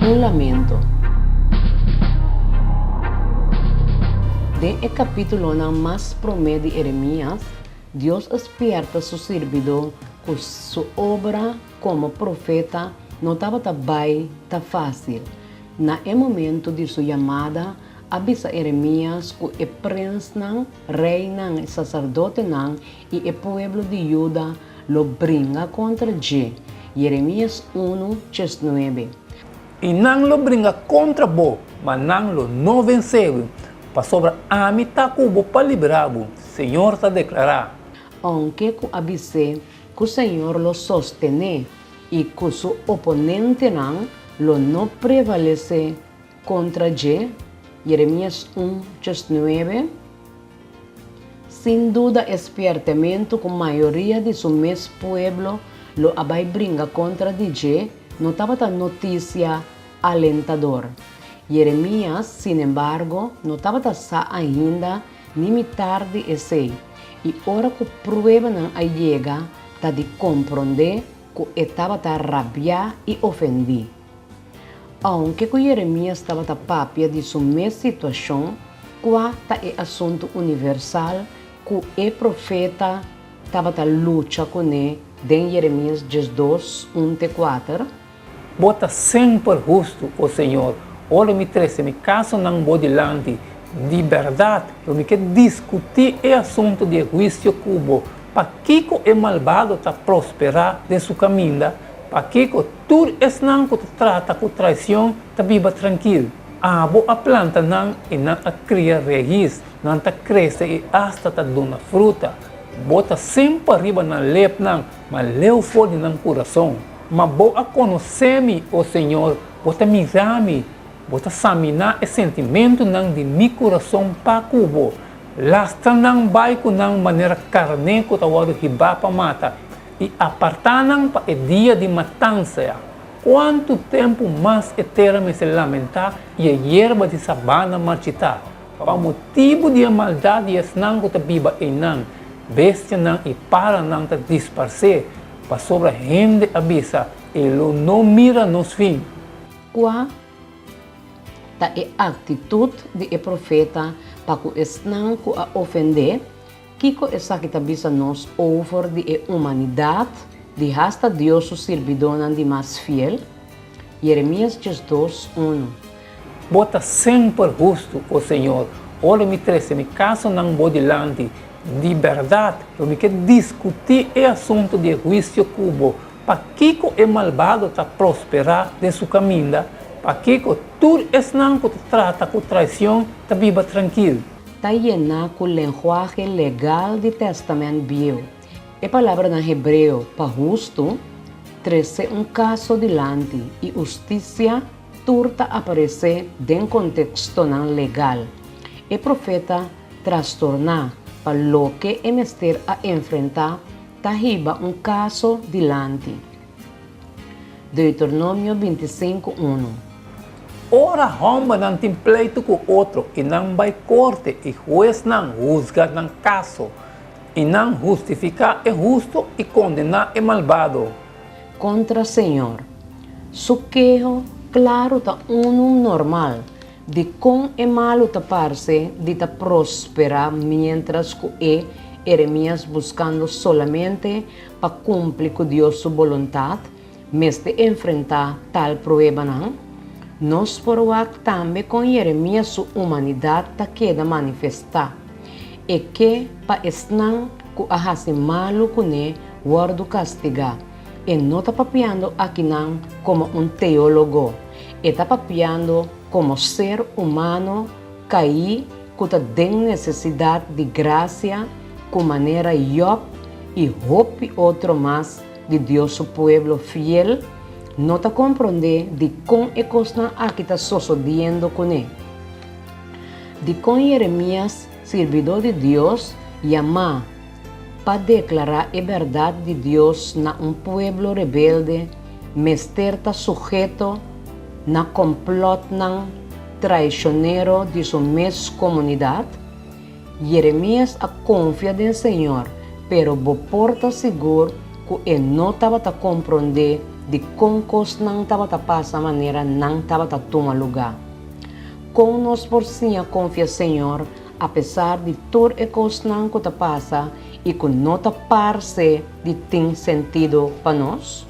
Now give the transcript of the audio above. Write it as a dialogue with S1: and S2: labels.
S1: Un lamento. Den e kapítulonan mas promé di Eremías, Dios a spièrta su sirbidó ku su obra komo profeta no tabata bai ta fásil. Na e momentu di su yamada, a bisa Eremías ku e prensnan, reinan i saserdotenan I e pueblo di Juda lo bringa kontra dje. Jeremias unu tjes nuebe. I
S2: nan lo bringa kontra bo, ma nan lo no vensé bo, pasobra Ami ta ku bo pa libera bo, Señor ta deklará. Ounke ku
S1: a bis'é ku Señor lo sostené i ku Su oponentenan lo no prevalesé kontra dje, Jeremias un tjes nuebe. Sin duda e spiertementu ku mayoria di su mes pueblo lo a bai bringa kontra di dje no tabata notisia alentador. Yeremias, sinembargo, no tabata sa ainda ni mitar di esei, i ora ku pruebanan a yega ta di komprondé ku e tabata rabiá i ofendí. Aunke ku Jeremias tabata papia di su mes situashon, kua ta e asuntu universal ku e profeta tabata lucha kuné den Jeremias diesdos, un te kuater? Bo
S2: ta semper hustu, o Señor. Ora mi trese mi kasonan Bo dilanti, di bèrdat lo mi ke diskutí e asuntu di e huisio ku Bo. Pakiko e malbado ta prosperá den su kaminda? Pakico tur esnan cu ta trata cu traicion ta biba trankil? Abo a planta nan y nan a cria rehiz, nan ta crece y hasta ta duna fruta. Bo ta semper riba nan lepnan, ma leu for di nan curazon. Ma bo a conoce mi, o Señor, bo ta mira mi, bo ta samina e sentimentonan di mi curazon pa cu bo. Lastra nan bay cu nan manera carné cu ta wordo hibá pa mata. i apartá nan pa e dia di matansa ya. Kuantu tempu mas e tera mester lamentá i e yerba di sabana marchitá pa motibu di e maldat di esnan ku ta biba einan? Bestianan i paranan ta disparsé, pasobra hende a bisa, E lo no mira nos fin. Kua
S1: ta e aktitut di e profeta pa ku esnan ku a ofendé? Kiko esaki ta bisa nos over di e humanidat di hasta Dios su sirbidónan di mas fiel? Jeremias diesdos, unu. Bo
S2: ta semper hustu, o Señor, ora mi trese mi kasonan Bo dilanti. Di bèrdat, lo mi ke diskutí e asuntu di e huisio ku Bo. Pakiko e malbado ta prosperá den su kaminda? Pakiko tur esnan ku ta trata ku traision ta biba trankil? ta yená
S1: ku lenguahe legal di Tèstamènt Bieu. E palabranan hebreo pa hustu trese un kaso dilanti i hustisia tur ta aparesé den kontekstonan legal. E profeta trastorná pa loke e mester a enfrentá ta hiba un kaso dilanti. Deuteronomio binti sinku unu.
S2: Ora hombernan tin pleitu ku otro i nan bai korte i huesnan husga nan kaso, i nan hustifiká e hustu i kondená e malbado. Kontra
S1: señor. Su keho klaru ta unu normal Dikon e malu ta parse di ta prosperá miéntras ku e, Eremias, buskando solamente pa kumpli ku Dios su boluntat, mester enfrentá tal pruebanan? Nos por wak tambe kon Eremias su humanidat ta keda manifestá. E ke pa esnan ku a hasi malu kuné wòrdu kastigá. E no ta papiando aki nan komo un teólogo, e ta papiando komo ser humano kaí ku ta den nesesidat di grasia ku manera Job i hopi otro mas di Dios su pueblo fiel no ta komprondé dikon e kosnan aki ta sosodiendo kuné. Dikon Jeremias, sirbidó di Dios, yamá? Pa deklará e bèrdat di Dios na un pueblo rebelde mester ta suheto na kòmplòtnan traishonero di su mes komunidat? Yeremias a konfia den Señor, pero bo por ta sigur ku e no tabata komprondé dikon kosnan tabata pasa manera nan tabata tuma lugá. Kon nos por siña konfia Señor apesar di tur e kosnan ku ta pasa i ku no ta parse di tin sentido pa nos?